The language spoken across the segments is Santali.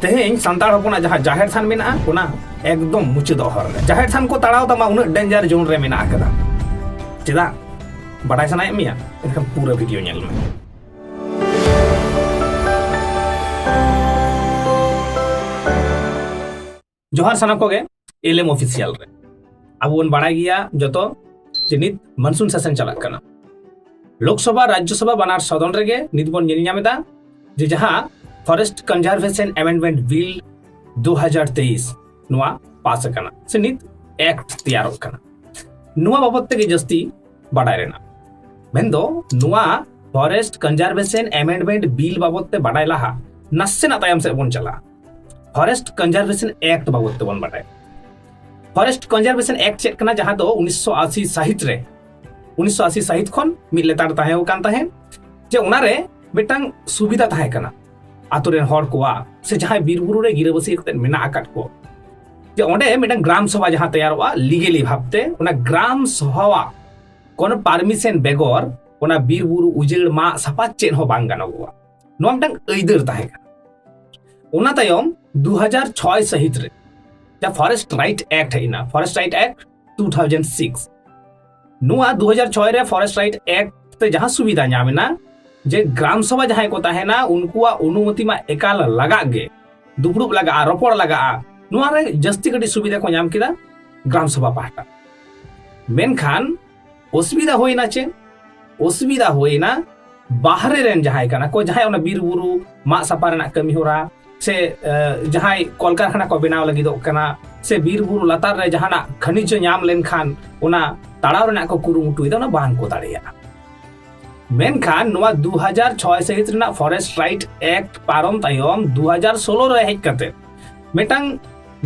ᱛᱮᱦᱮᱧ ᱥᱟᱱᱛᱟᱲ ᱦᱚᱯᱚᱱᱟᱜ ᱡᱟᱦᱟᱸ ᱡᱟᱦᱮᱨ ᱛᱷᱟᱱ ᱢᱮᱱᱟᱜᱼᱟ ᱚᱱᱟ ᱮᱠᱫᱚᱢ ᱢᱩᱪᱟᱹᱫ ᱦᱚᱨ ᱨᱮ ᱡᱟᱦᱮᱨ ᱛᱷᱟᱱ ᱠᱚ ᱛᱟᱲᱟᱣ ᱛᱟᱢᱟ ᱩᱱᱟᱹᱜ ᱰᱮᱧᱡᱟᱨ ᱡᱳᱱ ᱨᱮ ᱢᱮᱱᱟᱜ ᱟᱠᱟᱫᱟ ᱪᱮᱫᱟᱜ ᱵᱟᱰᱟᱭ ᱥᱟᱱᱟᱭᱮᱫ ᱢᱮᱭᱟ ᱮᱱᱠᱷᱟᱱ ᱯᱩᱨᱟᱹ ᱵᱷᱤᱰᱤᱭᱳ ᱧᱮᱞ ᱢᱮ ᱡᱚᱦᱟᱨ ᱥᱟᱱᱟᱢ ᱠᱚᱜᱮ ᱮᱞᱮᱢ ᱚᱯᱷᱤᱥᱤᱭᱟᱞ ᱨᱮ ᱟᱵᱚ ᱵᱚᱱ ᱵᱟᱲᱟᱭ ᱜᱮᱭᱟ ᱡᱚᱛᱚ ᱡᱮ ᱱᱤᱛ ᱢᱟᱱᱥᱩᱱ ᱥᱮᱥᱚᱱ ᱪᱟᱞᱟᱜ ᱠᱟᱱᱟ ᱞᱳᱠᱥᱚᱵᱷᱟ ᱨᱟᱡᱽᱡᱚᱥᱚᱵᱷᱟ ᱵᱟᱱᱟᱨ ᱥᱚᱫᱚᱱ ᱨᱮᱜᱮ ᱱᱤᱛ ᱵᱚᱱ ᱧᱮᱞ ᱧᱟᱢ ᱮᱫᱟ ᱡᱮ ᱡᱟᱦᱟᱸ ᱯᱷᱚᱨᱮᱥᱴ ᱠᱚᱱᱡᱟᱨᱵᱷᱮᱥᱚᱱ ᱮᱢᱮᱱᱰᱢᱮᱱᱴ ᱵᱤᱞ ᱫᱩ ᱦᱟᱡᱟᱨ ᱛᱮᱭᱤᱥ ᱱᱚᱣᱟ ᱯᱟᱥ ᱟᱠᱟᱱᱟ ᱥᱮ ᱱᱤᱛ ᱮᱠᱴ ᱛᱮᱭᱟᱨᱚᱜ ᱠᱟᱱᱟ ᱱᱚᱣᱟ ᱵᱟᱵᱚᱫ ᱛᱮᱜᱮ ᱡᱟᱹᱥᱛᱤ ᱵᱟᱰᱟᱭ ᱨᱮᱱᱟᱜ ᱢᱮᱱᱫᱚ ᱱᱚᱣᱟ ᱯᱷᱚᱨᱮᱥᱴ ᱠᱚᱱᱡᱟᱨᱵᱷᱮᱥᱚᱱ ᱮᱢᱮᱱᱰᱢᱮᱱᱴ ᱵᱤᱞ ᱵᱟᱵᱚᱫ ᱛᱮ ᱵᱟᱰᱟᱭ ᱞᱟᱦᱟ ᱱᱟᱥᱮᱱᱟᱜ ᱛᱟᱭᱚᱢ ᱥᱮᱫ ᱵᱚᱱ ᱪᱟᱞᱟᱜᱼᱟ ᱯᱷᱚᱨᱮᱥᱴ ᱠᱚᱱᱡᱟᱨᱵᱷᱮᱥᱚᱱ ᱮᱠᱴ ᱵᱟᱵᱚᱫ ᱛᱮᱵᱚᱱ ᱵᱟᱰᱟᱭ ᱯᱷᱚᱨᱮᱥᱴ ᱠᱚᱱᱡᱟᱨᱵᱷᱮᱥᱚᱱ ᱮᱠᱴ ᱪᱮᱫ ᱠᱟᱱᱟ ᱡᱟᱦᱟᱸ ᱫᱚ ᱩᱱᱤᱥᱥᱚ ᱟᱥᱤ ᱥᱟᱹᱦᱤᱛ ᱨᱮ ᱩᱱᱤᱥᱥᱚ ᱟᱥᱤ ᱥᱟᱹᱦᱤᱛ ᱠᱷᱚᱱ ᱢᱤᱫ ᱞᱮᱛᱟᱲ ᱛᱟᱦᱮᱸ ᱠᱟᱱ ᱛᱟᱦᱮᱸᱫ ᱡᱮ ᱚᱱᱟᱨᱮ ᱢᱤᱫᱴᱟᱝ ᱥᱩᱵᱤᱫᱷᱟ ᱛᱟᱦᱮᱸ ᱠᱟᱱᱟ ᱟᱛᱳ ᱨᱮᱱ ᱦᱚᱲ ᱠᱚᱣᱟᱜ ᱥᱮ ᱡᱟᱦᱟᱸᱭ ᱵᱤᱨᱵᱩᱨᱩ ᱨᱮ ᱜᱤᱨᱟᱹᱵᱟᱹᱥᱤ ᱠᱟᱛᱮ ᱢᱮᱱᱟᱜ ᱟᱠᱟᱫ ᱠᱚ ᱡᱮ ᱚᱸᱰᱮ ᱢᱤᱫᱴᱟᱝ ᱜᱨᱟᱢ ᱥᱚᱵᱷᱟ ᱡᱟᱦᱟᱸ ᱛᱮᱭᱟᱨᱚᱜᱼᱟ ᱞᱤᱜᱮᱞᱤ ᱵᱷᱟᱵᱛᱮ ᱚᱱᱟ ᱜᱨᱟᱢ ᱥᱚᱵᱷᱟᱣᱟᱜ ᱠᱳᱱᱳ ᱯᱟᱨᱢᱤᱥᱮᱱ ᱵᱮᱜᱚᱨ ᱚᱱᱟ ᱵᱤᱨᱵᱩᱨᱩ ᱩᱡᱟᱹᱲ ᱢᱟᱜ ᱥᱟᱯᱷᱟ ᱪᱮᱫ ᱦᱚᱸ ᱵᱟᱝ ᱜᱟᱱᱚᱜᱚᱜᱼᱟ ᱱᱚᱣᱟ ᱢᱤᱫᱴᱟᱝ ᱟᱹᱭᱫᱟᱹᱨ ᱛᱟᱦᱮᱸ ᱠᱟᱱᱟ ᱚᱱᱟ ᱛᱟᱭᱚᱢ ᱫᱩ ᱦᱟᱡᱟᱨ ᱪᱷᱚᱭ ᱥᱟᱹᱦᱤᱛ ᱨᱮ ᱡᱟᱦᱟᱸ ᱯᱷᱚᱨᱮᱥᱴ ᱨᱟᱭᱤᱴ ᱮᱠᱴ ᱦᱮᱡ ᱮᱱᱟ forest right act two thousand six ᱱᱚᱣᱟ ᱫᱩ ᱦᱟᱡᱟᱨ ᱪᱷᱚᱭ ᱨᱮ ᱯᱷᱚᱨᱮᱥᱴ ᱨᱟᱭᱤᱴ ᱮᱠᱴ ᱛᱮ ᱡᱟᱦᱟᱸ ᱥᱩᱵᱤᱫᱷᱟ ᱧᱟᱢ ᱮᱱᱟ ᱡᱮ ᱜᱨᱟᱢ ᱥᱚᱵᱷᱟ ᱡᱟᱦᱟᱸᱭ ᱠᱚ ᱛᱟᱦᱮᱱᱟ ᱩᱱᱠᱩᱣᱟᱜ ᱚᱱᱩᱢᱚᱛᱤ ᱢᱟ ᱮᱠᱟᱞ ᱞᱟᱜᱟᱜ ᱜᱮ ᱫᱩᱯᱲᱩᱵ ᱞᱟᱜᱟᱜᱼᱟ ᱨᱚᱯᱚᱲ ᱞᱟᱜᱟᱜᱼᱟ ᱱᱚᱣᱟ ᱨᱮ ᱡᱟᱹᱥᱛᱤ ᱠᱟᱹᱴᱤᱡ ᱥᱩᱵᱤᱫᱷᱟ ᱠᱚ ᱧᱟᱢ ᱠᱮᱫᱟ ᱜᱨᱟᱢ ᱥᱚᱵᱷᱟ ᱯᱟᱦᱴᱟ ᱢᱮᱱᱠᱷᱟᱱ ᱚᱥᱩᱵᱤᱫᱟ ᱦᱩᱭᱱᱟ ᱪᱮ ᱚᱥᱩᱵᱤᱫᱟ ᱦᱩᱭᱱᱟ ᱵᱟᱦᱨᱮ ᱨᱮᱱ ᱡᱟᱦᱟᱸᱭ ᱠᱟᱱᱟ ᱠᱚ ᱡᱟᱦᱟᱸᱭ ᱚᱱᱟ ᱵᱤᱨ ᱵᱩᱨᱩ ᱢᱟᱜ ᱥᱟᱯᱟ ᱨᱮᱱᱟᱜ ᱠᱟᱹᱢᱤ ᱦᱚᱨᱟ ᱥᱮ ᱡᱟᱦᱟᱸᱭ ᱠᱚᱞᱠᱟᱨᱠᱷᱟᱱᱟ ᱠᱚ ᱵᱮᱱᱟᱣ ᱞᱟᱹᱜᱤᱫᱚᱜ ᱠᱟᱱᱟ ᱥᱮ ᱵᱤᱨ ᱵᱩᱨᱩ ᱞᱟᱛᱟᱨ ᱨᱮ ᱡᱟᱦᱟᱱᱟᱜ ᱠᱷᱟᱹᱱᱤᱡᱽ ᱧᱟᱢ ᱞᱮᱱᱠᱷᱟᱱ ᱚᱱᱟ ᱛᱟᱲᱟᱣ ᱨᱮᱱᱟᱜ ᱠᱚ ᱠᱩᱨᱩᱢᱩᱴᱩᱭᱮᱫᱟ ᱚᱱᱟ ᱵᱟᱝ ᱠᱚ ᱫᱟᱲᱮᱭᱟᱜᱼᱟ ᱢᱮᱱᱠᱷᱟᱱ ᱱᱚᱣᱟ 2006 ᱥᱟᱹᱦᱤᱛ ᱨᱮᱱᱟᱜ ᱯᱷᱚᱨᱮᱥᱴ ᱨᱟᱭᱤᱴ ᱮᱠᱴ ᱯᱟᱨᱚᱢ ᱛᱟᱭᱚᱢ 2016 ᱨᱮ ᱦᱮᱡ ᱠᱟᱛᱮ ᱢᱤᱫᱴᱟᱝ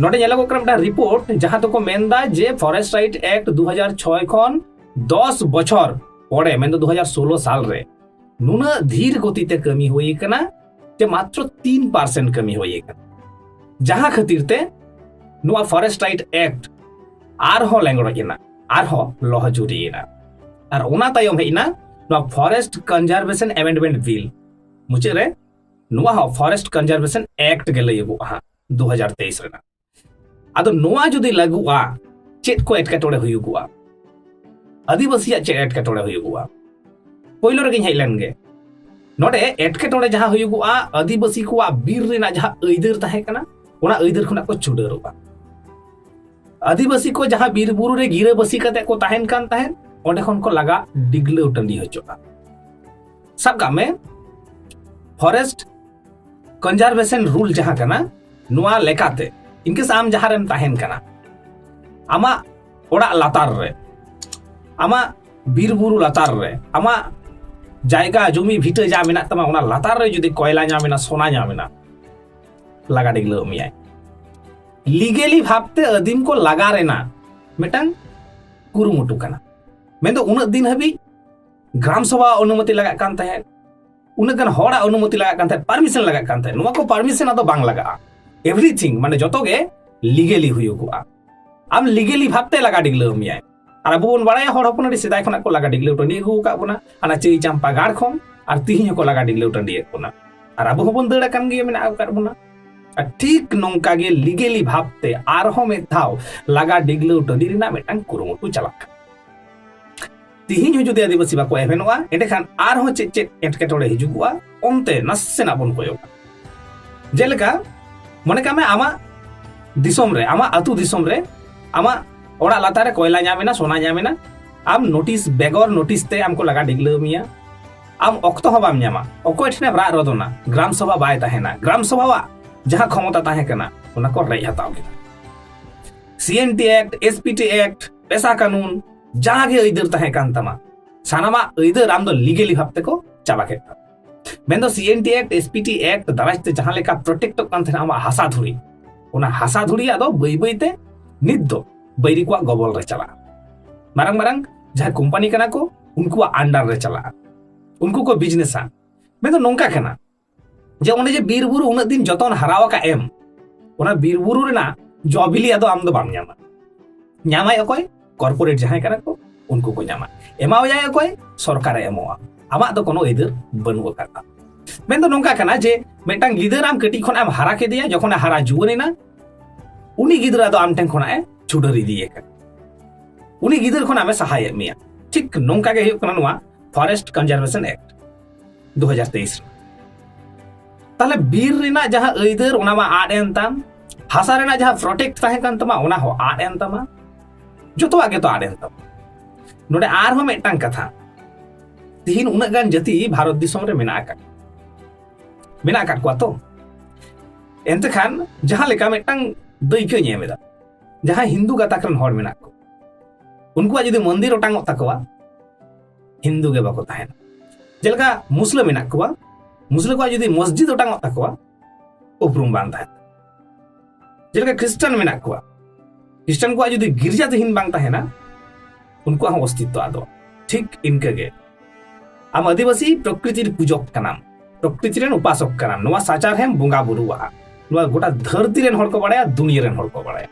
ᱱᱚᱰᱮ ᱧᱮᱞᱚᱜᱚᱜ ᱠᱟᱱᱟ ᱢᱤᱫᱴᱟᱝ ᱨᱤᱯᱳᱨᱴ ᱡᱟᱦᱟᱸ ᱫᱚᱠᱚ ᱢᱮᱱᱫᱟ ᱡᱮ ᱯᱷᱚᱨᱮᱥᱴ ᱨᱟᱭᱤᱴ ᱮᱠᱴ ᱫᱩ ᱦᱟᱡᱟᱨ ᱪᱷᱚᱭ ᱠᱷᱚᱱ ᱫᱚᱥ ᱵᱚᱪᱷᱚᱨ ᱯᱚᱨᱮ ᱢᱮᱱᱫᱚ ᱫᱩ ᱦᱟᱡᱟᱨ ᱥᱳᱞᱳ ᱥᱟᱞ ᱨᱮ ᱱᱩᱱᱟᱹᱜ ᱫᱷᱤᱨ ᱜᱚᱛᱤᱛᱮ ᱠᱟᱹᱢᱤ ᱦᱩᱭ ᱟᱠᱟᱱᱟ ᱡᱮ ᱢᱟᱛᱨᱚ ᱛᱤᱱ ᱯᱟᱨᱥᱮᱱᱴ ᱠᱟᱹᱢᱤ ᱦᱩᱭ ᱟᱠᱟᱱᱟ ᱡᱟᱦᱟᱸ ᱠᱷᱟᱹᱛᱤᱨ ᱛᱮ ᱱᱚᱣᱟ ᱯᱷᱚᱨᱮᱥᱴ ᱨᱟᱭᱤᱴ ᱮᱠᱴ ᱟᱨᱦᱚᱸ ᱞᱮᱸᱜᱲᱚᱡ ᱮᱱᱟ ᱟᱨᱦᱚᱸ ᱞᱚᱦᱚ ᱡᱩᱨᱤᱭᱮᱱᱟ ᱟᱨ ᱚᱱᱟ ᱛᱟᱭᱚᱢ ᱦᱮᱡ ᱮᱱᱟ ᱱᱚᱣᱟ ᱯᱷᱚᱨᱮᱥᱴ ᱠᱚᱱᱡᱟᱨᱵᱷᱮᱥᱚᱱ ᱮᱢᱮᱱᱰᱢᱮᱱᱴ ᱵᱤᱞ ᱢᱩᱪᱟᱹᱫ ᱨᱮ ᱱᱚᱣᱟ ᱦᱚᱸ ᱯᱷᱚᱨᱮᱥᱴ ᱠᱚᱱᱡᱟᱨᱵᱷᱮᱥᱚᱱ ᱮᱠᱴ ᱜᱮ ᱞᱟᱹᱭᱚᱜᱚᱜᱼᱟ ᱫᱩ ᱦᱟᱡᱟᱨ ᱛᱮᱭᱤᱥ ᱨᱮᱱᱟᱜ ᱟᱫᱚ ᱱᱚᱣᱟ ᱡᱩᱫᱤ ᱞᱟᱹᱜᱩᱜᱼᱟ ᱪᱮᱫ ᱠᱚ ᱮᱴᱠᱮᱴᱚᱬᱮ ᱦᱩᱭᱩᱜᱚᱜᱼᱟ ᱟᱹᱫᱤᱵᱟᱹᱥᱤᱭᱟᱜ ᱪᱮᱫ ᱮᱴᱠᱮᱴᱚᱬᱮ ᱦᱩᱭᱩᱜᱚᱜᱼᱟ ᱯᱳᱭᱞᱳ ᱨᱮᱜᱮᱧ ᱦᱮᱡ ᱞᱮᱱ ᱜᱮ ᱱᱚᱰᱮ ᱮᱴᱠᱮᱴᱚᱬᱮ ᱡᱟᱦᱟᱸ ᱦᱩᱭᱩᱜᱚᱜᱼᱟ ᱟᱹᱫᱤᱵᱟᱹᱥᱤ ᱠᱚᱣᱟᱜ ᱵᱤᱨ ᱨᱮᱱᱟᱜ ᱡᱟᱦᱟᱸ ᱟᱹᱭᱫᱟᱹᱨ ᱛᱟᱦᱮᱸ ᱠᱟᱱᱟ ᱚᱱᱟ ᱟᱹᱭᱫᱟᱹᱨ ᱠᱷᱚᱱᱟᱜ ᱠᱚ ᱪᱩᱰᱟᱹᱨᱚᱜᱼᱟ ᱟᱹᱫᱤᱵᱟᱹᱥᱤ ᱠᱚ ᱡᱟᱦᱟᱸ ᱵᱤᱨ ᱵᱩᱨᱩ ᱨᱮ ᱜᱤᱨᱟᱹᱵᱟᱹᱥᱤ ᱠᱟᱛᱮ ᱠᱚ ᱛᱟᱦᱮᱱ ᱠᱟᱱ ᱛᱟᱦᱮᱸᱫ ᱚᱸᱰᱮ ᱠᱷᱚᱱ ᱠᱚ ᱞᱟᱜᱟ ᱰᱤᱜᱽᱞᱟᱹᱣ ᱴᱟᱺᱰᱤ ᱦᱚᱪᱚᱜᱼᱟ ᱥᱟᱵ ᱠᱟᱜ ᱢᱮ ᱯᱷᱚᱨᱮᱥᱴ ᱠᱚᱱᱡᱟᱨᱵᱷᱮᱥᱚᱱ ᱨᱩᱞ ᱡᱟᱦᱟᱸ ᱠᱟᱱᱟ ᱱᱚᱣᱟ ᱞᱮᱠᱟᱛᱮ ᱤᱱᱠᱮᱥ ᱟᱢ ᱡᱟᱦᱟᱸ ᱨᱮᱢ ᱛᱟᱦᱮᱱ ᱠᱟᱱᱟ ᱟᱢᱟᱜ ᱚᱲᱟᱜ ᱞᱟᱛᱟᱨ ᱨᱮ ᱟᱢᱟᱜ ᱵᱤᱨ ᱵᱩᱨᱩ ᱞᱟᱛᱟᱨ ᱨᱮ ᱟᱢᱟᱜ ᱡᱟᱭᱜᱟ ᱡᱩᱢᱤ ᱵᱷᱤᱴᱟᱹ ᱡᱟ ᱢᱮᱱᱟᱜ ᱛᱟᱢᱟ ᱚᱱᱟ ᱞᱟᱛᱟᱨ ᱨᱮ ᱡᱩᱫᱤ ᱠᱚᱭᱞᱟ ᱧᱟᱢ ᱮᱱᱟ ᱥᱚᱱᱟ ᱧᱟᱢ ᱮᱱᱟ ᱞᱟᱜᱟ ᱰᱤᱜᱽᱞᱟᱹᱣ ᱢᱮᱭᱟᱭ ᱞᱤᱜᱮᱞᱤ ᱵᱷᱟᱵᱛᱮ ᱟᱹᱫᱤᱢ ᱠᱚ ᱞᱟᱜᱟ ᱨᱮᱱᱟᱜ ᱢᱤᱫᱴᱟᱝ ᱠᱩᱨᱩᱢᱩᱴᱩ ᱠᱟᱱᱟ ᱢᱮᱱᱫᱚ ᱩᱱᱟᱹᱜ ᱫᱤᱱ ᱦᱟᱹᱵᱤᱡ ᱜᱨᱟᱢ ᱥᱚᱵᱷᱟ ᱚᱱᱩᱢᱚᱛᱤ ᱞᱟᱜᱟᱜ ᱠᱟᱱ ᱛᱟᱦᱮᱸᱫ ᱩᱱᱟᱹᱜ ᱜᱟᱱ ᱦᱚᱲᱟᱜ ᱚᱱᱩᱢᱚᱛᱤ ᱞᱟᱜᱟᱜ ᱠᱟᱱ ᱛᱟᱦᱮᱸᱫ ᱯᱟᱨᱢᱤᱥᱚᱱ ᱞᱟᱜᱟᱜ ᱠᱟᱱ ᱛᱟᱦᱮᱸᱫ ᱱᱚᱣᱟ ᱠᱚ ᱯᱟᱨᱢᱤᱥᱚᱱ ᱟᱫᱚ ᱵᱟᱝ ᱞᱟᱜᱟᱜᱼᱟ ᱮᱵᱷᱨᱤᱛᱷᱤᱝ ᱢᱟᱱᱮ ᱡᱚᱛᱚ ᱜᱮ ᱞᱤᱜᱮᱞᱤ ᱦᱩᱭᱩᱜᱚᱜᱼᱟ ᱟᱢ ᱞᱤᱜᱮᱞᱤ ᱵᱷᱟᱵᱛᱮ ᱞᱟᱜᱟ ᱰᱤᱜᱽᱞᱟᱹᱣ ᱢᱮᱭᱟᱭ ᱟᱨ ᱟᱵᱚ ᱵᱚᱱ ᱵᱟᱲᱟᱭᱟ ᱦᱚᱲ ᱦᱚᱯᱚᱱ ᱟᱹᱰᱤ ᱥᱮᱫᱟᱭ ᱠᱷᱚᱱᱟᱜ ᱠᱚ ᱞᱟᱜᱟ ᱰᱤᱜᱽᱞᱟᱹᱣ ᱴᱟᱺᱰᱤ ᱟᱹᱜᱩ ᱟᱠᱟᱫ ᱵᱚᱱᱟ ᱚᱱᱟ ᱪᱟᱹᱭ ᱪᱟᱢᱯᱟ ᱜᱟᱲ ᱠᱷᱚᱱ ᱟᱨ ᱛᱤᱦᱤᱧ ᱦᱚᱸᱠᱚ ᱞᱟᱜᱟ ᱰᱤᱜᱽᱞᱟᱹᱣ ᱴᱟᱺᱰᱤᱭᱮᱫ ᱵᱚᱱᱟ ᱟᱨ ᱟᱵᱚ ᱦᱚᱸᱵᱚᱱ ᱫᱟᱹᱲ ᱟᱠᱟᱱ ᱜᱮᱭᱟ ᱢᱮᱱᱟᱜ ᱟᱠᱟᱫ ᱵᱚᱱᱟ ᱟᱨ ᱴᱷᱤᱠ ᱱᱚᱝᱠᱟ ᱜᱮ ᱞᱤᱜᱮᱞᱤ ᱵᱷᱟᱵᱛᱮ ᱟᱨᱦᱚᱸ ᱢᱤᱫ ᱫᱷᱟᱣ ᱞᱟᱜᱟ ᱰᱤᱜᱽᱞᱟᱹᱣ ᱴᱟᱺᱰᱤ ᱨᱮᱱᱟᱜ ᱢᱤᱫᱴᱟᱝ ᱠᱩᱨᱩᱢᱩᱴᱩ ᱪᱟᱞᱟᱜ ᱠᱟᱱᱟ ᱛᱤᱦᱤᱧ ᱦᱚᱸ ᱡᱩᱫᱤ ᱟᱹᱫᱤᱵᱟᱹᱥᱤ ᱵᱟᱠᱚ ᱮᱵᱷᱮᱱᱚᱜᱼᱟ ᱮᱸᱰᱮᱠᱷᱟᱱ ᱟᱨᱦᱚᱸ ᱪᱮᱫ ᱪᱮᱫ ᱮᱴᱠᱮᱴᱚᱬᱮ ᱦᱤᱡᱩᱜᱚᱜᱼᱟ ᱚᱱᱛᱮ ᱱᱟᱥᱮᱱᱟᱜ ᱵᱚᱱ ᱠᱚᱭᱚᱜᱟ ᱡᱮᱞᱮᱠᱟ ᱢᱚᱱᱮ ᱠᱟᱜ ᱢᱮ ᱟᱢᱟᱜ ᱫᱤᱥᱚᱢ ᱨᱮ ᱟᱢᱟᱜ ᱟᱹᱛᱩ ᱫᱤᱥᱚᱢ ᱨᱮ ᱟᱢᱟᱜ ᱚᱲᱟᱜ ᱞᱟᱛᱟᱨ ᱨᱮ ᱠᱚᱭᱞᱟ ᱧᱟᱢ ᱮᱱᱟ ᱥᱚᱱᱟ ᱧᱟᱢ ᱮᱱᱟ ᱟᱢ ᱱᱳᱴᱤᱥ ᱵᱮᱜᱚᱨ ᱱᱳᱴᱤᱥ ᱛᱮ ᱟᱢ ᱠᱚ ᱞᱟᱜᱟ ᱰᱤᱜᱽᱞᱟᱹᱣ ᱢᱮᱭᱟ ᱟᱢ ᱚᱠᱛᱚ ᱦᱚᱸ ᱵᱟᱢ ᱧᱟᱢᱟ ᱚᱠᱚᱭ ᱴᱷᱮᱱᱮᱢ ᱨᱟᱜ ᱨᱚᱫᱚᱱᱟ ᱜᱨᱟᱢ ᱥᱚᱵᱷᱟ ᱵᱟᱭ ᱛᱟᱦᱮᱱᱟ ᱜᱨᱟᱢ ᱥᱚᱵᱷᱟᱣᱟᱜ ᱡᱟᱦᱟᱸ ᱠᱷᱚᱢᱚᱛᱟ ᱛᱟᱦᱮᱸ ᱠᱟᱱᱟ ᱚᱱᱟ ᱠᱚ ᱨᱮᱡ ᱦᱟᱛᱟᱣ ᱠᱮᱫᱟ CNT act SPT act PESA ᱠᱟᱹᱱᱩᱱ ᱡᱟᱦᱟᱸ ᱜᱮ ᱟᱹᱭᱫᱟᱹᱨ ᱛᱟᱦᱮᱸ ᱠᱟᱱ ᱛᱟᱢᱟ ᱥᱟᱱᱟᱢᱟᱜ ᱟᱹᱭᱫᱟᱹᱨ ᱟᱢ ᱫᱚ ᱞᱤᱜᱮᱞᱤ ᱵᱷᱟᱵ ᱛᱮᱠᱚ ᱪᱟᱵᱟ ᱠᱮᱫ ᱛᱟᱢᱟ ᱢᱮᱱᱫᱚ ᱥᱤᱮᱱᱴᱤ ᱮᱠᱴ ᱮᱥᱯᱤᱴᱤ ᱮᱠᱴ ᱫᱟᱨᱟᱭ ᱛᱮ ᱡᱟᱦᱟᱸ ᱞᱮᱠᱟ ᱯᱨᱚᱴᱮᱠᱴᱚᱜ ᱠᱟᱱ ᱛᱟᱦᱮᱸᱱᱟ ᱟᱢᱟᱜ ᱦᱟᱥᱟ ᱫᱷᱩᱲᱤ ᱚᱱᱟ ᱦᱟᱥᱟ ᱫᱷᱩᱲᱤ ᱟᱫᱚ ᱵᱟᱹᱭ ᱵᱟᱹᱭ ᱛᱮ ᱱᱤᱛ ᱫᱚ ᱵᱟᱹᱭᱨᱤ ᱠᱚᱣᱟᱜ ᱜᱚᱵᱚᱞ ᱨᱮ ᱪᱟᱞᱟᱜᱼᱟ ᱢᱟᱨᱟᱝ ᱢᱟᱨᱟᱝ ᱡᱟᱦᱟᱸ ᱠᱳᱢᱯᱟᱱᱤ ᱠᱟᱱᱟ ᱠᱚ ᱩᱱᱠᱩᱣᱟᱜ ᱟᱱᱰᱟᱨ ᱨᱮ ᱪᱟᱞᱟᱜᱼᱟ ᱩᱱᱠᱩ ᱠᱚ ᱵᱤᱡᱽᱱᱮᱥᱟ ᱢᱮᱱᱫᱚ ᱱᱚᱝᱠᱟ ᱠᱟᱱᱟ ᱡᱮ ᱚᱱᱮ ᱡᱮ ᱵᱤᱨ ᱵᱩᱨᱩ ᱩᱱᱟᱹᱜ ᱫᱤᱱ ᱡᱚᱛᱚᱱ ᱦᱟᱨᱟ ᱟᱠᱟᱫ ᱮᱢ ᱚᱱᱟ ᱵᱤᱨ ᱵᱩᱨᱩ ᱨᱮᱱᱟᱜ ᱡᱚ ᱵᱤᱞᱤ ᱟᱫᱚ ᱟᱢ ᱫᱚ ᱵᱟᱢ ᱧᱟᱢᱟ ᱧᱟᱢᱟᱭ ᱚᱠᱚᱭ ᱠᱚᱨᱯᱳᱨᱮᱴ ᱡᱟᱦᱟᱸᱭ ᱠᱟᱱᱟ ᱠᱚ ᱩᱱᱠᱩ ᱠᱚ ᱧᱟᱢᱟ ᱮᱢᱟᱣᱟᱭᱟᱭ ᱚᱠᱚᱭ ᱥᱚᱨᱠᱟᱨᱮ ᱮᱢᱚᱜᱼᱟ ᱟᱢᱟᱜ ᱫᱚ ᱠᱳᱱᱳ ᱟᱹᱭᱫᱟᱹᱨ ᱵᱟᱹᱱᱩᱜ ᱟᱠᱟᱫᱟ ᱢᱮᱱ ᱫᱚ ᱱᱚᱝᱠᱟ ᱠᱟᱱᱟ ᱡᱮ ᱢᱤᱫᱴᱟᱝ ᱜᱤᱫᱟᱹᱨ ᱟᱢ ᱠᱟᱹᱴᱤᱡ ᱠᱷᱚᱱᱟᱜ ᱮᱢ ᱦᱟᱨᱟ ᱠᱮᱫᱮᱭᱟ ᱡᱚᱠᱷᱚᱱᱮ ᱦᱟᱨᱟ ᱡᱩᱣᱟᱹᱱ ᱮᱱᱟ ᱩᱱᱤ ᱜᱤᱫᱽᱨᱟᱹ ᱫᱚ ᱟᱢ ᱴᱷᱮᱱ ᱠᱷᱚᱱᱟᱜ ᱮ ᱪᱷᱩᱰᱟᱹᱨ ᱤᱫᱤᱭᱮ ᱠᱟᱱᱟ ᱩᱱᱤ ᱜᱤᱫᱟᱹᱨ ᱠᱷᱚᱱᱟᱜ ᱮ ᱥᱟᱦᱟᱭᱮᱫ ᱢᱮᱭᱟ ᱴᱷᱤᱠ ᱱᱚᱝᱠᱟ ᱜᱮ ᱦᱩᱭᱩᱜ ᱠᱟᱱᱟ ᱱᱚᱣᱟ ᱯᱷᱚᱨᱮᱥᱴ ᱠᱚᱱᱡᱟᱨᱵᱷᱮᱥᱚᱱ ᱮᱠᱴ ᱫᱩ ᱦᱟᱡᱟᱨ ᱛᱮᱭᱤᱥ ᱨᱮ ᱛᱟᱦᱞᱮ ᱵᱤᱨ ᱨᱮᱱᱟᱜ ᱡᱟᱦᱟᱸ ᱟᱹᱭᱫᱟᱹᱨ ᱚᱱᱟ ᱢᱟ ᱟᱫ ᱮᱱ ᱛᱟᱢ ᱦᱟᱥᱟ ᱨᱮᱱᱟᱜ ᱡᱟᱦᱟᱸ ᱯᱨᱚᱴᱮᱠᱴ ᱛᱟᱦᱮᱸ ᱠᱟᱱ ᱛᱟᱢᱟ ᱚᱱᱟ ᱦᱚᱸ ᱟᱫ ᱮᱱ ᱛᱟᱢᱟ ᱡᱚᱛᱚᱣᱟᱜ ᱜᱮᱛᱚ ᱟᱫ ᱮᱱ ᱛᱟᱢᱟ ᱱᱚᱰᱮ ᱟᱨᱦᱚᱸ ᱢᱤᱫᱴᱟᱝ ᱠᱟᱛᱷᱟ ᱛᱤᱦᱤᱧ ᱩᱱᱟᱹᱜ ᱜᱟᱱ ᱡᱟᱹᱛᱤ ᱵᱷᱟᱨᱚᱛ ᱫᱤᱥᱚᱢ ᱨᱮ ᱢᱮᱱᱟᱜ ᱟᱠᱟᱫ ᱢᱮᱱᱟᱜ ᱟᱠᱟᱫ ᱠᱚᱣᱟ ᱛᱚ ᱮᱱᱛᱮ ᱠᱷᱟᱱ ᱡᱟᱦᱟᱸ ᱞᱮᱠᱟ ᱢᱤᱫᱴᱟᱝ ᱫᱟᱹᱭᱠᱟᱹᱧ ᱮᱢ ᱮᱫᱟ ᱡᱟᱦᱟᱸᱭ ᱦᱤᱱᱫᱩ ᱜᱟᱛᱟᱠ ᱨᱮᱱ ᱦᱚᱲ ᱢᱮᱱᱟᱜ ᱠᱚ ᱩᱱᱠᱩᱣᱟᱜ ᱡᱩᱫᱤ ᱢᱚᱱᱫᱤᱨ ᱚᱴᱟᱝᱚᱜ ᱛᱟᱠᱚᱣᱟ ᱦᱤᱱᱫᱩ ᱜᱮ ᱵᱟᱠᱚ ᱛᱟᱦᱮᱱᱟ ᱡᱮᱞᱮᱠᱟ ᱢᱩᱥᱞᱟᱹ ᱢᱮᱱᱟᱜ ᱠᱚᱣᱟ ᱢᱩᱥᱞᱟᱹ ᱠᱚᱣᱟᱜ ᱡᱩᱫᱤ ᱢᱚᱥᱡᱤᱫ ᱚᱴᱟᱝᱚᱜ ᱛᱟᱠᱚᱣᱟ ᱩᱯᱨᱩᱢ ᱵᱟᱝ ᱛᱟᱦᱮᱱᱟ ᱡᱮᱞᱮᱠᱟ ᱠᱷᱨᱤᱥᱴᱟᱱ ᱢᱮᱱᱟᱜ ᱠᱚᱣᱟ ᱠᱷᱨᱤᱥᱴᱟᱱ ᱠᱚᱣᱟᱜ ᱡᱩᱫᱤ ᱜᱤᱨᱡᱟ ᱛᱤᱦᱤᱧ ᱵᱟᱝ ᱛᱟᱦᱮᱱᱟ ᱩᱱᱠᱩᱣᱟᱜ ᱦᱚᱸ ᱚᱥᱛᱤᱛᱛᱚ ᱟᱫᱚ ᱴᱷᱤᱠ ᱤᱱᱠᱟᱹᱜᱮ ᱟᱢ ᱟᱹᱫᱤᱵᱟᱹᱥᱤ ᱯᱨᱚᱠᱨᱤᱛᱤᱨ ᱯᱩᱡᱚᱠ ᱠᱟᱱᱟᱢ ᱯᱨᱚᱠᱨᱤᱛᱤ ᱨᱮᱱ ᱩᱯᱟᱥᱚᱠ ᱠᱟᱱᱟᱢ ᱱᱚᱣᱟ ᱥᱟᱪᱟᱨᱦᱮᱢ ᱵᱚᱸᱜᱟ ᱵᱩᱨᱩᱣᱟᱜᱼᱟ ᱱᱚᱣᱟ ᱜᱚᱴᱟ ᱫᱷᱟᱹᱨᱛᱤ ᱨᱮᱱ ᱦᱚᱲ ᱠᱚ ᱵᱟᱲᱟᱭᱟ ᱫᱩᱱᱤᱭᱟᱹ ᱨᱮᱱ ᱦᱚᱲ ᱠᱚ ᱵᱟᱲᱟᱭᱟ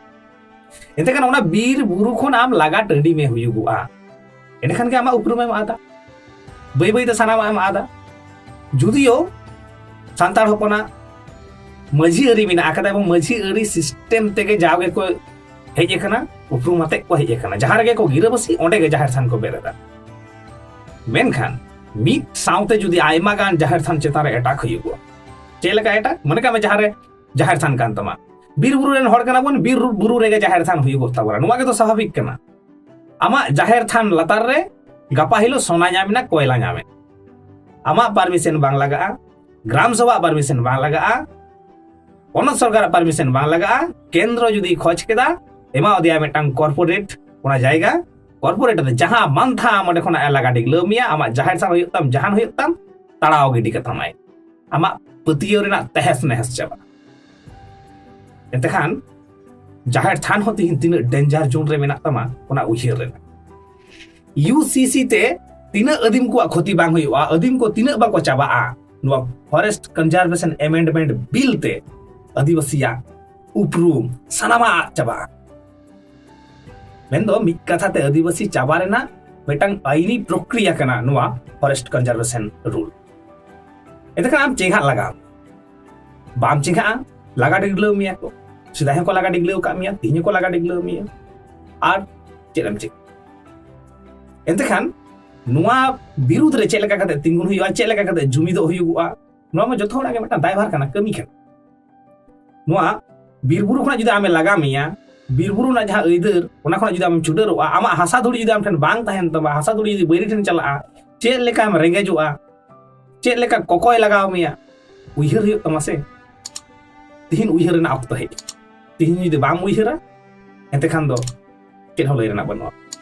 ᱮᱱᱛᱮ ᱠᱷᱟᱱ ᱚᱱᱟ ᱵᱤᱨ ᱵᱩᱨᱩ ᱠᱷᱚᱱ ᱟᱢ ᱞᱟᱜᱟ ᱴᱟᱺᱰᱤ ᱢᱮ ᱦᱩᱭᱩᱜᱚᱜᱼᱟ ᱮᱸᱰᱮᱠᱷᱟᱱ ᱜᱮ ᱟᱢᱟᱜ ᱩᱯᱨᱩᱢᱮᱢ ᱟᱫᱟ ᱵᱟᱹᱭ ᱵᱟᱹᱭ ᱛᱮ ᱥᱟᱱᱟᱢᱟᱜ ᱮᱢ ᱟᱫᱟ ᱡᱩᱫᱤᱭᱳ ᱥᱟᱱᱛᱟᱲ ᱦᱚᱯᱚᱱᱟᱜ ᱢᱟᱹᱡᱷᱤ ᱟᱹᱨᱤ ᱢᱮᱱᱟᱜ ᱟᱠᱟᱫᱟ ᱮᱵᱚᱝ ᱢᱟᱹᱡᱷᱤ ᱟᱹᱨᱤ ᱥᱤᱥᱴᱮᱢ ᱛᱮᱜᱮ ᱡᱟᱣ ᱜᱮᱠᱚ ᱦᱮᱡ ᱟᱠᱟᱱᱟ ᱩᱯᱨᱩᱢ ᱟᱛᱮᱫ ᱠᱚ ᱦᱮᱡ ᱟᱠᱟᱱᱟ ᱡᱟᱦᱟᱸ ᱨᱮᱜᱮ ᱠᱚ ᱜᱤᱨᱟᱹᱵᱟᱹᱥᱤ ᱚᱸᱰᱮ ᱜᱮ ᱡᱟᱦᱮᱨ ᱛᱷᱟᱱ ᱠᱚ ᱵᱮᱨᱮᱫᱟ ᱢᱮᱱᱠᱷᱟᱱ ᱢᱤᱫ ᱥᱟᱶᱛᱮ ᱡᱩᱫᱤ ᱟᱭᱢᱟ ᱜᱟᱱ ᱡᱟᱦᱮᱨ ᱛᱷᱟᱱ ᱪᱮᱛᱟᱱ ᱨᱮ ᱮᱴᱟᱠ ᱦᱩᱭᱩᱜᱼᱟ ᱪᱮᱫ ᱞᱮᱠᱟ ᱮᱴᱟᱠ ᱢᱚᱱᱮ ᱠᱟᱜ ᱢᱮ ᱡᱟᱦᱟᱸ ᱨᱮ ᱡᱟᱦᱮᱨ ᱛᱷᱟᱱ ᱠᱟᱱ ᱛᱟᱢᱟ ᱵᱤᱨ ᱵᱩᱨᱩ ᱨᱮᱱ ᱦᱚᱲ ᱠᱟᱱᱟ ᱵᱚᱱ ᱵᱤᱨ ᱵᱩᱨᱩ ᱨᱮᱜᱮ ᱡᱟᱦᱮᱨ ᱛᱷᱟᱱ ᱦᱩᱭᱩᱜᱚᱜ ᱛᱟᱵᱚᱱᱟ ᱱᱚᱣᱟ ᱜᱮᱛᱚ ᱥᱟᱵᱷᱟᱵᱤᱠ ᱠᱟᱱᱟ ᱟᱢᱟᱜ ᱡᱟᱦᱮᱨ ᱛᱷᱟᱱ ᱞᱟᱛᱟᱨ ᱨᱮ ᱜᱟᱯᱟ ᱦᱤᱞᱳᱜ ᱥᱚᱱᱟ ᱧᱟᱢᱮᱱᱟ ᱠᱚᱭᱞᱟ ᱧᱟᱢᱮ ᱟᱢᱟᱜ ᱯᱟᱨᱢᱤᱥᱮᱱ ᱵᱟᱝ ᱞᱟᱜᱟᱜᱼᱟ ᱜᱨᱟᱢ ᱥᱚᱵᱷᱟ ᱯᱟᱨᱢᱤᱥᱮᱱ ᱵᱟᱝ ᱞᱟᱜᱟᱜᱼᱟ ᱯᱚᱱᱚᱛ ᱥᱚᱨᱠᱟᱨᱟᱜ ᱯᱟᱨᱢᱤᱥᱮᱱ ᱵᱟᱝ ᱞᱟᱜᱟᱜᱼᱟ ᱠᱮᱱᱫᱨᱚ ᱡᱩᱫᱤ ᱠᱷᱚᱡᱽ ᱠᱮᱫᱟ ᱮᱢᱟ ᱟᱫᱮᱭᱟ ᱢᱤᱫᱴᱟᱝ ᱠᱚᱨᱯᱳᱨᱮᱴ ᱚᱱᱟ ᱡᱟᱭᱜᱟ ᱠᱚᱨᱯᱳᱨᱮᱴ ᱫᱚ ᱡᱟᱦᱟᱸ ᱢᱟᱱᱛᱷᱟ ᱟᱢ ᱚᱸᱰᱮ ᱠᱷᱚᱱᱟᱜ ᱞᱟᱜᱟ ᱰᱤᱜᱽᱞᱟᱹᱣ ᱢᱮᱭᱟ ᱟᱢᱟᱜ ᱡᱟᱦᱮᱨ ᱛᱷᱟᱱ ᱦᱩᱭᱩᱜ ᱛᱟᱢ ᱡᱟᱦᱟᱱ ᱦᱩᱭᱩᱜ ᱛᱟᱢ ᱛᱟᱲᱟᱣ ᱜᱤᱰᱤ ᱠᱟᱛᱟᱢᱟᱭ ᱟᱢᱟᱜ ᱯᱟᱹᱛᱭᱟᱹᱣ ᱨᱮᱱᱟᱜ ᱛᱮᱦᱮᱥ ᱱᱮᱦᱮᱥ ᱪᱟᱵᱟᱜᱼᱟ ᱮᱱᱛᱮᱠᱷᱟᱱ ᱡᱟᱦᱮᱨ ᱛᱷᱟᱱ ᱦᱚᱸ ᱛᱤᱦᱤᱧ ᱛᱤᱱᱟᱹᱜ ᱰᱮᱧᱡᱟᱨ ᱡᱳᱱ ᱨᱮ ᱢᱮᱱᱟᱜ ᱛᱟᱢᱟ ᱚᱱᱟ ᱩᱭᱦᱟᱹᱨ ᱨᱮᱱᱟᱜ ᱤᱭᱩ ᱥᱤ ᱥᱤ ᱛᱮ ᱛᱤᱱᱟᱹᱜ ᱟᱹᱫᱤᱢ ᱠᱚᱣᱟᱜ ᱠᱷᱚᱛᱤ ᱵᱟᱝ ᱦᱩᱭᱩᱜᱼᱟ ᱟᱹᱫᱤᱢ ᱠᱚ ᱛᱤᱱᱟᱹᱜ ᱵᱟᱠᱚ ᱪᱟᱵᱟᱜᱼᱟ ᱱᱚᱣᱟ ᱯᱷᱚᱨᱮᱥᱴ ᱠᱚᱱᱡᱟᱨᱵᱷᱮᱥᱚᱱ ᱮᱢᱮᱱᱰᱢᱮᱱᱴ ᱵᱤᱞ ᱛᱮ ᱟᱹᱫᱤᱵᱟᱹᱥᱤᱭᱟᱜ ᱩᱯᱨᱩᱢ ᱥᱟᱱᱟᱢᱟᱜ ᱟᱫ ᱪᱟᱵᱟᱜᱼᱟ ᱢᱮᱱᱫᱚ ᱢᱤᱫ ᱠᱟᱛᱷᱟ ᱛᱮ ᱟᱹᱫᱤᱵᱟᱹᱥᱤ ᱪᱟᱵᱟ ᱨᱮᱱᱟᱜ ᱢᱤᱫᱴᱟᱝ ᱟᱹᱭᱤᱱᱤ ᱯᱨᱚᱠᱨᱤᱭᱟ ᱠᱟᱱᱟ ᱱᱚᱣᱟ ᱯᱷᱚᱨᱮᱥᱴ ᱠᱚᱱᱡᱟᱨᱵᱷᱮᱥᱚᱱ ᱨᱩᱞ ᱮᱱᱠᱷᱟᱱ ᱟᱢ ᱪᱮᱸᱜᱷᱟᱜ ᱞᱟᱜᱟᱣ ᱵᱟᱢ ᱪᱮᱸᱜᱷᱟᱜᱼᱟ ᱞᱟᱜᱟ ᱰᱤᱜᱽᱞᱟᱹᱣ ᱢᱮᱭᱟ ᱠᱚ ᱥᱮᱫᱟᱭ ᱦᱚᱸᱠᱚ ᱞᱟᱜᱟ ᱰᱤᱜᱽᱞᱟᱹᱣ ᱠᱟᱜ ᱢᱮᱭᱟ ᱛᱮᱦᱮᱧ ᱦᱚᱸᱠᱚ ᱞᱟᱜᱟ ᱰᱤᱜᱽᱞᱟᱹᱣ ᱢᱮᱭᱟ ᱟᱨ ᱪᱮᱫ ᱮᱢ ᱪᱮᱫ ᱮᱱᱛᱮᱠᱷᱟᱱ ᱱᱚᱣᱟ ᱵᱤᱨᱩᱫᱽ ᱨᱮ ᱪᱮᱫ ᱞᱮᱠᱟ ᱠᱟᱛᱮ ᱛᱤᱸᱜᱩᱱ ᱦᱩᱭᱩᱜᱼᱟ ᱪᱮᱫ ᱞᱮᱠᱟ ᱠᱟᱛᱮ ᱡᱩᱢᱤᱫᱚᱜ ᱦᱩᱭᱩᱜᱼᱟ ᱱᱚᱣᱟ ᱢᱟ ᱡᱚᱛᱚ ᱦᱚᱲᱟᱜ ᱜᱮ ᱢᱤᱫᱴᱟᱝ ᱫᱟᱭᱵᱷᱟᱨ ᱠᱟᱱᱟ ᱠᱟᱹᱢᱤ ᱠᱟᱱᱟ ᱱᱚᱣᱟ ᱵᱤᱨᱵᱩᱨᱩ ᱠᱷᱚᱱᱟᱜ ᱡᱩᱫᱤ ᱟᱢᱮ ᱞᱟᱜᱟ ᱢᱮᱭᱟ ᱵᱤᱨᱵᱩᱨᱩ ᱨᱮᱱᱟᱜ ᱡᱟᱦᱟᱸ ᱟᱹᱭᱫᱟᱹᱨ ᱚᱱᱟ ᱠᱷᱚᱱᱟᱜ ᱡᱩᱫᱤ ᱟᱢ ᱪᱩᱰᱟᱹᱨᱚᱜᱼᱟ ᱟᱢᱟᱜ ᱦᱟᱥᱟ ᱫᱷᱩᱲᱤ ᱡᱩᱫᱤ ᱟᱢ ᱴᱷᱮᱱ ᱵᱟᱝ ᱛᱟᱦᱮᱱ ᱛᱟᱢᱟ ᱦᱟᱥᱟ ᱫᱷᱩᱲᱤ ᱡᱩᱫᱤ ᱵᱟᱹᱭᱨᱤ ᱴᱷᱮᱱ ᱪᱟᱞᱟᱜᱼᱟ ᱪᱮᱫ ᱞᱮᱠᱟᱢ ᱨᱮᱸᱜᱮᱡᱚᱜᱼᱟ ᱪᱮᱫ ᱞᱮᱠᱟ ᱠᱚᱠᱚᱭ ᱞᱟᱜᱟᱣ ᱢᱮᱭᱟ ᱩᱭᱦᱟᱹᱨ ᱦᱩᱭᱩᱜ ᱛᱟᱢᱟ ᱥᱮ ᱛᱤᱦᱤᱧ ᱩᱭᱦᱟᱹᱨ ᱨᱮᱱᱟᱜ ᱚᱠᱛᱚ ᱦᱮᱡ ᱛᱤᱦᱤᱧ ᱡᱩᱫᱤ ᱵᱟᱢ ᱩᱭᱦᱟᱹᱨᱟ ᱮᱱᱛᱮ ᱠᱷᱟᱱ ᱫᱚ ᱪᱮᱫ ᱦᱚᱸ ᱞᱟᱹᱭ ᱨᱮᱱᱟᱜ ᱵᱟᱹᱱᱩᱜᱼᱟ